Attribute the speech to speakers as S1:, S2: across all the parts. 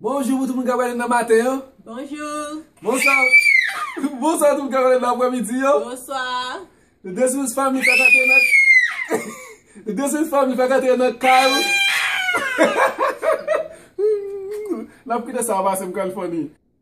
S1: Bonjou pou tout moun kap gade nan maten an. Bonjou. Bonswa. Bonswa tout moun kap gade nan aprè midi an.
S2: Bonswa.
S1: Nou de sou fanmi kap gade nan. Nou de sou fanmi kap gade nan kay. Nap kite sa pase m kwèl funny.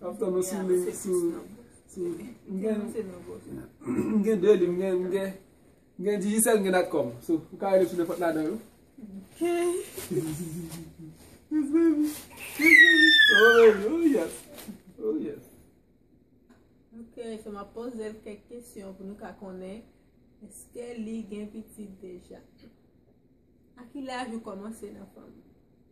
S1: Map tann ou sou li sou M gen 2 li m gen Digicel m gen Natcom sou ou ka rele sou nenpòt ladan yo. Ok.
S2: Yes
S1: baby. Yes baby. Oh baby. Oh yes. Oh yes.
S2: Ok, so map poze l kèk kesyon pou nou ka konnen eske li gen pitit deja. A ki laj ou kòmanse nan fanmi?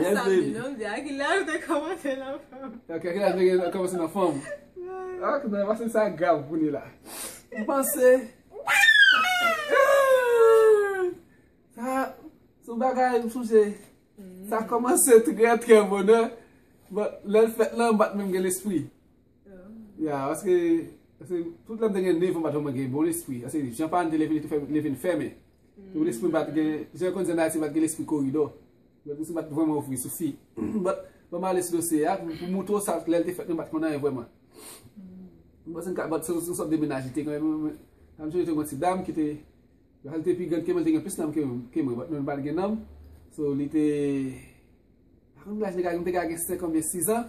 S2: Yes baby. Ok, ki laj gen nan
S1: kòmanse nan fanm. Ok, mwen panse sa grav pou ni la. Mwen panse. Sa, sou bagay mwen sonje. Sa kòmanse trè trè bonè. Bon, lèl fèt lan bat menm gen lespri. Ya, paske, paske, tout lèm te gen nevan patè mwen gen bon lespri, paske jan pa nte leve li te fè leve n fèmen. Tou lespri bat gen, jan kon zen ayiti bat gen lespri koridò. Lèm te sou bat vwèman ouvri sou fi. Bat, ban male sou dosye ya, pou moutou sa lèl te fèt mwen bat kondan yon vwèman. Mwen se nka bat sou sou sòt de menaj li te gen, mwen mwen, mwen se yon ti dam ki te, lèl te pi gen, kèmèl te gen plis nanm ke mwen, bat mwen bat gen nanm. So li te, akoun mwen te gen 5 an mwen 6 an,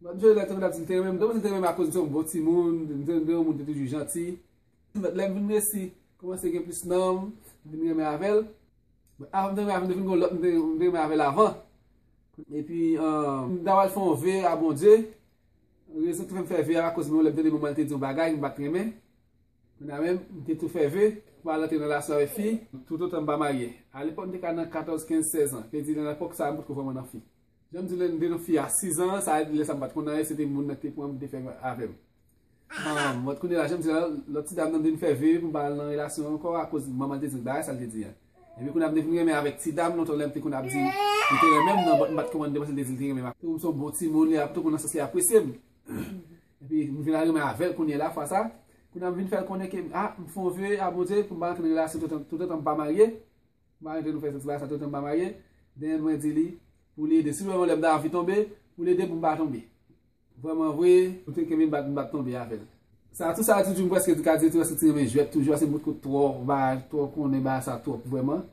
S1: Mèt Joël te konn ap di m te renmen m, m te konn di m te renmen m akoz m se yon bon timoun, m te renmen yon moun ki te toujou janti. Mèt lè m vin resi kòmanse gen plis nanm, m vin renmen avè l. Bon, avan m te renmen avè l m te fin gen yon lòt m te renmen avè l avan. Epi, m ta pral fè yon ve a Bondye. Rezon ki te fè m fè ve a akoz m gen yon lè m tande manman l te di yon bagay m pa t renmen. Kounye a menm, m te tou fè ve pou m pa rantre nan relasyon avèk fi. Toutotan m pa marye. Alepòk m te ka nan 14, 15, 16 an. Te di nan epòk sa a m potko vrèman nan fi. Janm di lèm te nan fi a 6 ans sa lè sa m pat konn anyen se te moun nan ki te pranm ki te fè avèm Ahh but kounye la janm di la lòt ti dam nan m vin fè vue poum pa al nan relasyon an ankò akoz manman l te dil bagay sa l te di an epi kounye a m te vin renmen avèk ti dam lontan lèm te konn ap di li te renmen m nan but m pat konprann li paske l te di li te renmen m akoz m son bon timoun li ap tou konn nan sans li apresye m epi m vin al renmen avèl kounye la fwa sa kounye a m vin fèl konnen ke m ah m fon vue a Bondye poum pa rantre nan relasyon toutotan m pa marye. Mpa renmn jan nou fè santi bagay sa toutan mpa marye then mwen di li pou li ede si mwen wè lèm nan anvi tonbe pou l edem pou mpa tonbe vrèman vre pou te kenbem bat mbat tonbe avèl. Sa tou sa Djoudjou m preske di Kadie tou eske ti renmen jwèt toujou a se bout kout twò va twò konnen bagay sa twòp vrèman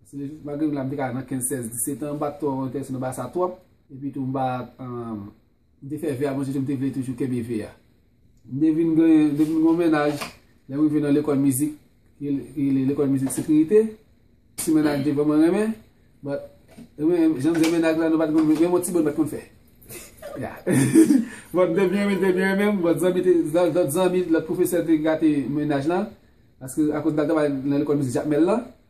S1: se malgre m la m te ka nan 15 16 17 an m pa twò entèrese nan bagay sa twòp epi tou m pa M te fè ve a bon Dieu m te vle toujou kenbe ve a. M te vin gen depi m gen yon mennaj lè m rive nan lekòl mizik ki rele lekòl mizik sekirite ti mennaj m te vrèman renmen but renmen jan m gen mennaj la nou pat konn menm yon ti bo nou pat konn fè ya but m te byen renmen l te byen renmen m but zanmi te lòt zanmi lòt pwofesè te gate mennaj lan paske akoz m t al travay nan lekòl mizik Jakmèl lan.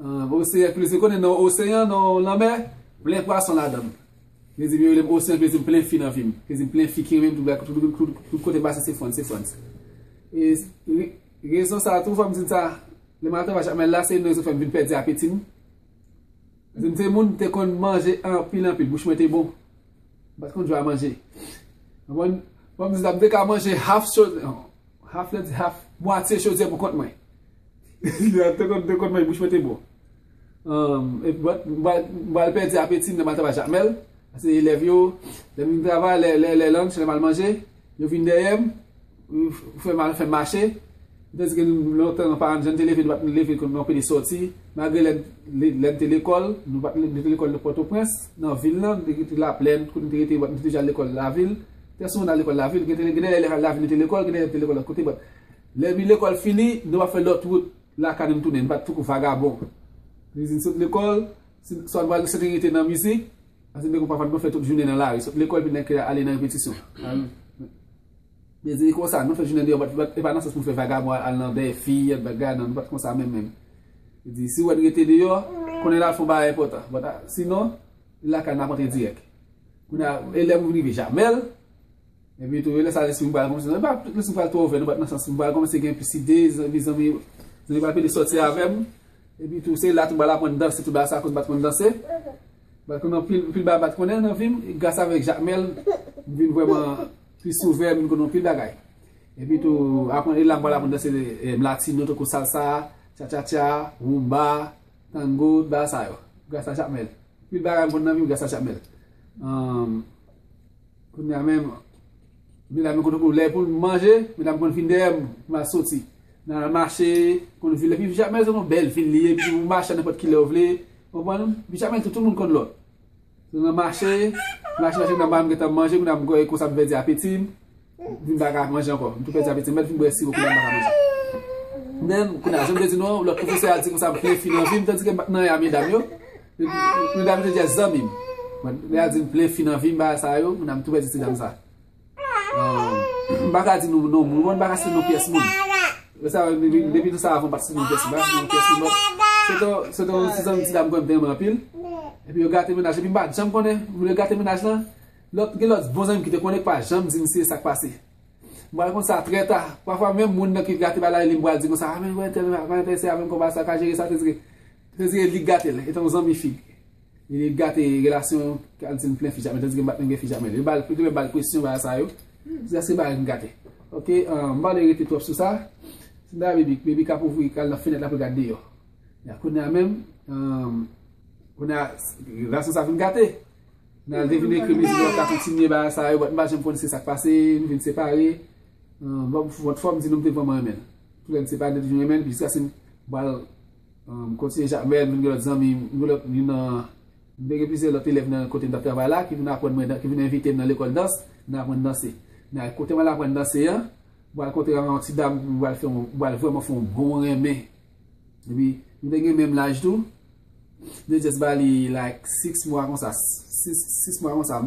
S1: Oseyan k plezi konnen non oseyan non lanmè plen pwason ladann plezi m yo relem oseyan plezi m plen fi nan vi m plezi m plen fi ki renmen m tout bagay tout kote m pase se fun se fun rezon sa tou fò m di n sa lè m al travay chak mèl la se yon nan rezon ki fè m vin pèdi apeti m paske m te moun m te konn manje anpil anpil bouch mwen te bon m pat konn jwe a manje konprann fò m di sa m te ka manje half half mwatye chodyè pou kont mwen. Mwen te konn dekonn men bouch mwen te bon. M pral pèdi apeti m lè m al travay Jakmèl. Pase elèv yo, lè m vin travay, lè lang se lè m al manje. Yo vin dèyè m, fè m al fè m mache. Mwen te di gen lontan paran m jan te leve nou pa t leve konn nou anpele sòti. Malgre lè m te lekòl, nou pa t nou te lekòl nan Pòtoprens, nan vil nan, nou te rete Laplèn, kote nou te rete nou te toujou al lekòl lavil. Trè souvan nou al lekòl lavil. Gen de lè lè lavil nou te lekòl, gen de lè nou te lekòl lòt kote. Lè mi lekòl fini, nou pa fè lòt wout lakay nou tounen, nou pa tankou vagabon. Li di n sot lekòl, swa nou pral gen sekirite nan mizik, paske nou te konn pafwa nou fè tout jounen nan lari. Sot lekòl vin nan kè a ale nan repetisyon. Li di li konsa, nou fè jounen deyò, e pa nan sans pou nou fè vagabon al nan dèyè fi, al bagay, nan, nou pa t konsa menm menm. Li di, si wè n rete deyò, konnen n al fè yon bagay enpòtan. Sinon, lakay n ap antre dirèk. Kounye a, e lè m rive Jamèl. Epi tou lè sa lespri m pral kòmanse, epa tout lespri m pral twò ouvè nan bat nan sans m pral kòmanse gen plis ide, zanmi zanmi zanmi pral vini sòti avè m, epi tou se la tou m pral aprann danse tou bagay sa koz m pat konn danse, m pral konnen anpil anpil bagay m pat konnen nan vi m, gras avèk Jakmèl m vin vrèman plis ouvè m vin konnen anpil bagay. Epi tou aprann e la m pral aprann danse latino tankou salsa, tchatchatcha, rumba, tango, tout bagay sa yo gras a Jakmèl, anpil bagay m konn nan vi m gras a Jakmèl. Kounye a menm, medam yo konn lè pou nou manje, medam yo konn vin dèyè m pou m al soti. N al mache, konn vin lè pi pijama se yon bèl vil li ye, epi ou mache nenpòt ki lè ou vle, konprann? Pijama tou tout moun konn lòt. N al mache, mache mache nan ba m gentan manje, kounye a m konn vèdi apeti m, Dim pa ka manje ankò. M tou pèdi apeti. M mèt vin bwè siwo kounya m pa ka manje. Men, kounya, jan m te di nou an, lòt pwofesè a di konsa m plen fi nan vi m tandike m pa t nan ya medam yo. Medam yo te jès zanmi m. Men, lè y a di m plen fi nan vi m bagay sa yo, kounya m tou pèdi ti dam sa. M pa ka di nou non moun, m pa ka site non pyès moun. Lè sa yo, depi nou sa avan m pa t site non pyès moun. M pa ka site non pyès moun lòt. Se te, se te yon ti zanmi ti dam m konn te renmen anpil. Epi yo gate mennaj. Epi m pa t janm konnen, m le gate mennaj lan. Lòt gen lòt bon zanmi ki te konnen ki pa janm di misye sa k pase. M pral konn sa trè ta. Pafwa menm moun nan ki gate bay lavil li m pral di konsa, a men wè tèl pa enterese avè m konpa sa, ka jere sa sètire. Sètire li k gate l, etan w zanmi fi. Li k gate relasyon an, ki al di m plen fi jamè, tandiske m pa t menm gen fi jamè. Li ba l, li te ba l presyon bagay sa yo, jiska se bagay m gate. Ok, m pa vle rete twòp sou sa. Se bagay Bebik. Bebik ap ouvri, k al nan fenèt la pou l gad deyò. Kounye a menm, kounye a, relasyon sa vin gate. Men al devine ke Mezilè yo ka kontinye bagay sa yo but m pa janm konn se sak pase, nou vin separe. Bon but fòm di nou m te vrèman renmen l. Tou lè n separe m te toujou renmen l jiskaske m pral kontinye jwe avè l, m vin gen lòt zanmi, m gen lòt youn nan, m te gen plizyè lòt elèv nan kote m t ap travay la ki vin aprann mwen dan, ki vin envite m nan lekòl dans, m nan aprann danse. Men al kote m al aprann danse an, m pral kontre avè yon ti dam m pral fè yon, m pral vrèman fè yon bon renmen Epi, nou te gen menm laj tou. M te just ba li like 6 mwa konsa. 6 mwa konsa.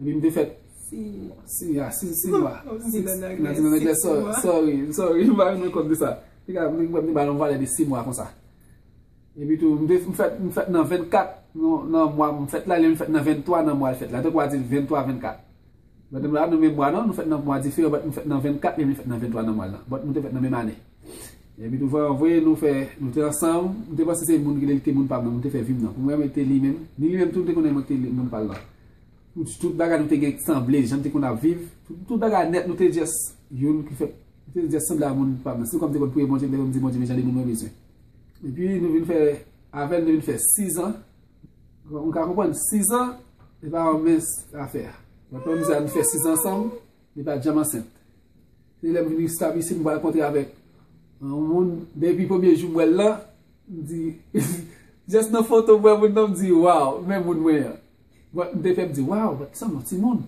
S1: Epi m te fèt. 6 mwa. 6 mwa. 6 mwa. M di nan anglè. M di nan anglè. Sorry. Sorry. M pa renmen kont de sa. M te gen yon valè yon valè de 6 mwa konsa. Epi tou, m te fèt. M fèt nan 24 nan mwa. M fèt la. Lè m fèt nan 23 nan mwa l fèt la. Te kwa di 23, 24. Madanm la nan menm mwa non, nou fèt nan mwa diferan but nou fèt nan 24 men li fèt nan 23 nan mwa lan but nou te fèt nan menm ane. Epi tou vre nou fè nou te ansanm, m te panse se moun ki li te moun pam nan nou te fè vi m nan pou mwen men te li menm, ni li menm tou li te konnen mwen te moun pal lan. Tout bagay nou te gen sanble jan nou te konn ap viv, tout bagay nèt nou te just youn ki fèt nou te just sanble a moun pam nan. Se kòm m te konn priye Bondye m te konn di Bondye men jan de moun mwen bezwen. Epi nou vin fè avèl nou te vin fè 6 ans. M ka konprann 6 ans li pa yon mens afè. Mwen konn misye ap fè 6 ans ansanm li pat janm ansent. Se lèm vin estab isit m pral kontre avèk yon moun depi premye jou m wèl lan m di just nan foto m wè moun nan m di waw men moun mwen an. M te fè m di waw but li sanble yon timoun.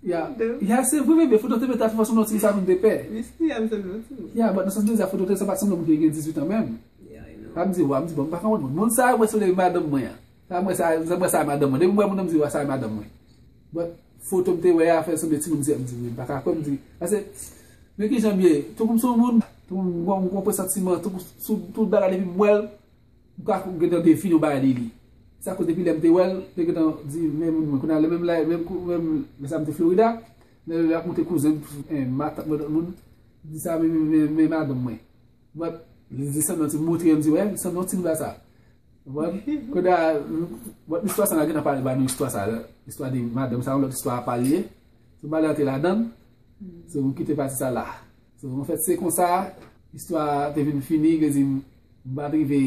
S1: Ya se vre bebe foto te mete a te fè sanble yon ti sa moun te pè. Li sti ya li sanble yon ti moun. Ya but nan sans mwen di a foto te sa pat sanble moun ki gen 18 an menm. Sa m di wa m di bon m pa konprann moun. Moun sa yo mwen sanble madanm mwen an. Sa mwen sa sa mwen sa madanm mwen. Depi m wè moun an m di wa sa madanm mwen. But foto m te wè a fè l sanble ti moun 17 m di wi m pa ka kwè m di. Pase men kijan m ye. Tankou m son moun. Tankou m gon m gon presantiman tankou sou tout bagay depi m wè l. M pa gentan define yon bagay li li. Sa koz depi lè m te wè l, m te gentan di men moun mwen. Kounye a lè menm la, menm kou menm lè sa m te Florida, lè l ap montre kouzen m, matant mwen lòt moun, m di sa men men madanm mwen. But li di sanble yon ti moutre an, m di wè, li sanble yon ti nouda sa. Ou konprann? Kounye a, but istwa sa m ap gentan pale ba nou istwa sa, istwa de madanm sa yon lòt istwa apa li ye. Sou bagay an te ladan, so m kite pati sa la. An fèt, se konsa istwa a te vin fini, vle di m pa t rive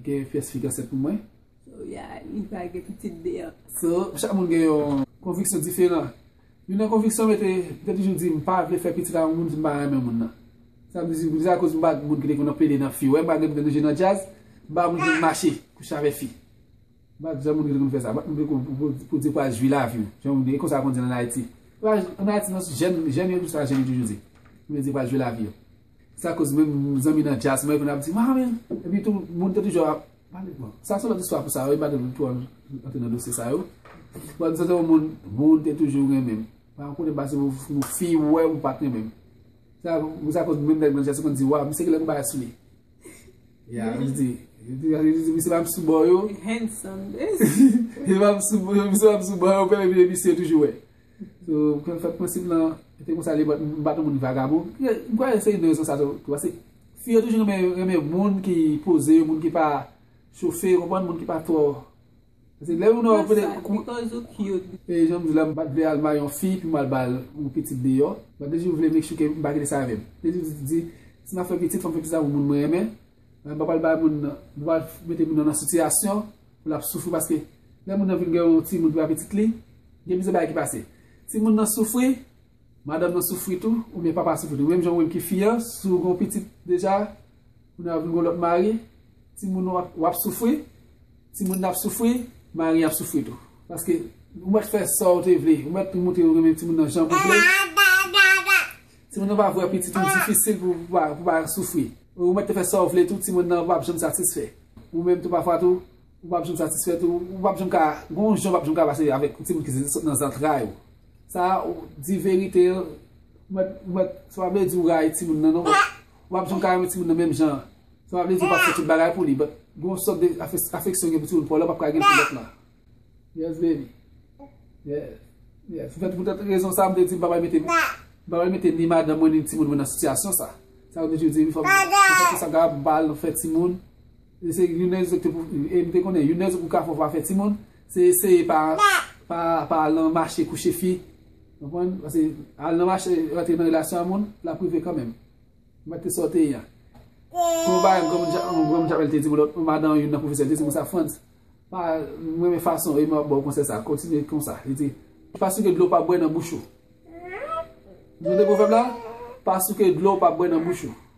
S1: gen pyès fi ansent pou mwen. So ya li
S2: pa gen pitit deyò. So, chak moun gen
S1: yon konviksyon diferan. Youn nan konviksyon mwen te, m te toujou di m pa vle fè pitit ak yon moun si m pa renmen moun nan. Sa m di m se akoz m pa t moun ki te konn ap plede nan fi. Ou wè malgre m te toujou nan djaz, m pa t moun ki konn mache kouche avèk fi. Bat jan moun yo te konn fè sa. Bat moun yo pou di pral jwi laviw. Jan moun yo, e konsa yo konn di an Ayiti. An Ayiti non, jèn yo sa jèn yo toujou di. Moun yo di pral jwi lavi yo. Sa koz menm zanmi nan djaz mwen yo konn ap di mami. Epi tou moun te toujou ap pale bon. Sa son lòt istwa pou sa yo, e pa gen twò antre nan dosye sa yo. Bon nou se te yon moun, moun te toujou renmenm. Pa m konnen pase yon fi wèm ou pat renmenm. Sa koz menm nèg nan djaz yo konn di waw, misye gen lè pou bagay sou li. Ya, li di. Li di, li di, misye pa ap sou bò yo. Li handsome,
S2: bes. Li
S1: pa ap sou bò yo, misye pa ap sou bò yo, pèlè vye misye toujou wè. So, kwen fèk mwen sip lan, te kon sa li bat, bat moun vagabon. Mwen kwè se yon rezon sa tou, tou ase. Fi yo toujou renmen, renmen moun ki poze, moun ki pa chofe, moun ki pa twò. Se lè yon nòg vle kou. Because ou cute. E janm di la m pat vle al mari yon fi pou m al bal yon pitit deyò. Mwen toujou vle make sure ke m pa kite sa avè m. M toujou di si m ap fè pitit fò m fè pitit avèk yon moun mwen renmen. M pa pral bay moun nan, m pa pral mete moun nan nan sitiyasyon pou l ap soufri paske lè moun nan vin gen yon timoun ki pa pitit li, gen plizyè bagay ki pase. Ti moun nan soufri, madanm nan soufri tou, oubyen papa a soufri tou. Menm jan ou menm ki fi an, si w gen yon pitit deja. Kounye a ou vin gon lòt mari, timoun ou ap, wap soufri, timoun nan ap soufri, mari an ap soufri tou. Paske ou mèt fè sa ou te vle, ou mèt tou moutre ou renmen timoun nan jan ou vle, timoun nan pa vwe pitit ou difisil pou pa, pou pa soufri. Ou mèt te fè sa ou vle tou, timoun nan pap janm satisfè. Ou menm tou pafwa tou, ou pap janm satisfè tou, ou pap janm ka, gon jan ou pap janm ka pase avèk timoun ki sot nan zantray ou. Sa a, di verite, ou mèt, ou mèt, sa pa vle di ou rayi timoun nan non, Wap jwenn kareman timoun nan menm jan. Sa pa vle di ou pap fè tout bagay pou li but gen yon sòt de afeksyon ou gen pou timoun paw la ou pap ka gen pou lòt la. Yes baby. Yes. Yes. Pou poutèt rezon sa m te di m pa pral mete m pa pral mete ni madanm mwen ni timoun mwen nan sitiyasyon sa. Sa m toujou di m fòk m fè tout sa m kapab pou m pa al nan fè timoun. E se youn nan rezon ki te pou e m te konnen youn nan rezon pou kafou pa fè timoun se eseye pa pa al nan mache kouche fi. Ou konprann? Pase al nan mache rantre nan relasyon a moun, lap rive kanmenm. Mwen te sa w te ye a. Kon yon bagay yon granmoun Javel te di mwen lòt, yon madan youn nan pwofesè te di mwen sa, Frantz, pa, m renmen fason e m ap ba w konsèy sa, kontinye konsa. Li di, pa souke dlo w pa bwè nan bouch ou. Nou konnen pwovèb la? Pa souke dlo w pa bwè nan bouch ou.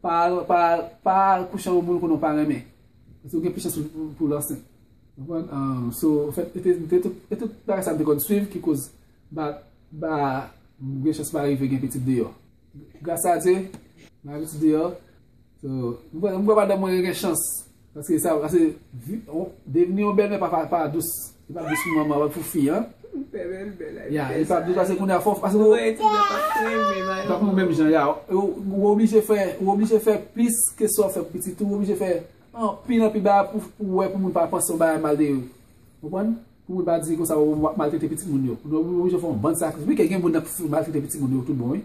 S1: Pa pa al kouche ak yon moun ou konnen ou pa renmen. Paske ou gen plis chans pou l ansent. Ou konprann? So, fèt e tout bagay sa m te konn swiv ki koz ba ba m gen chans pa rive gen pitit deyò. Gras a Dye, m pa gen pitit deyò. So, m kwè madanm mwen gen chans. Paske sa paske devni yon bèlmè pa pa pa dous. Li pa dous pou manman wè pou fi an. Bèlmè m bèl la. Ya li pa dous paske kounye a fò paske ou. Wè ti nan pa renmen la. Pap nou menm jan ya. Ou oblije fè ou oblije fè plis ke sa w fè pou pitit ou. Ou oblije fè anpil anpil bagay pou pou wè pou moun pa panse yon bagay mal de yo. Ou konprann? Pou moun pa di konsa w ap maltrete pitit moun yo. Ou oblije fè yon bann sakrifis. Wi kè gen moun nan k maltrete pitit moun yo tout bon wi.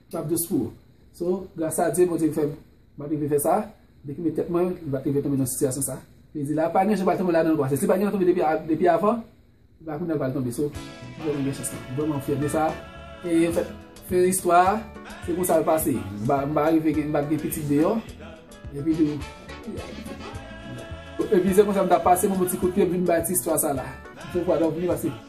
S1: Map dous pou ou. So, gras a Dye Bondye ki fèm map rive fè sa, li ki met tèt mwen, li pat rive tonbe nan sitiyasyon sa. Li di la pa gen jan pa tonbe ladanl pase si pa gentan tonbe depi avan, se pa kounya l pral tonbe. So, m vrèman gen chans lan. M vrèman fyè de sa. E an fèt, fen istwa a, se konsa l pase. M pa m pa rive gen m pat gen pitit deyò. Epi tou Epi se konsa m tap pase m yon ti kout pye m vin bay ti istwa sa la. M fè yon fwa dòmi paske.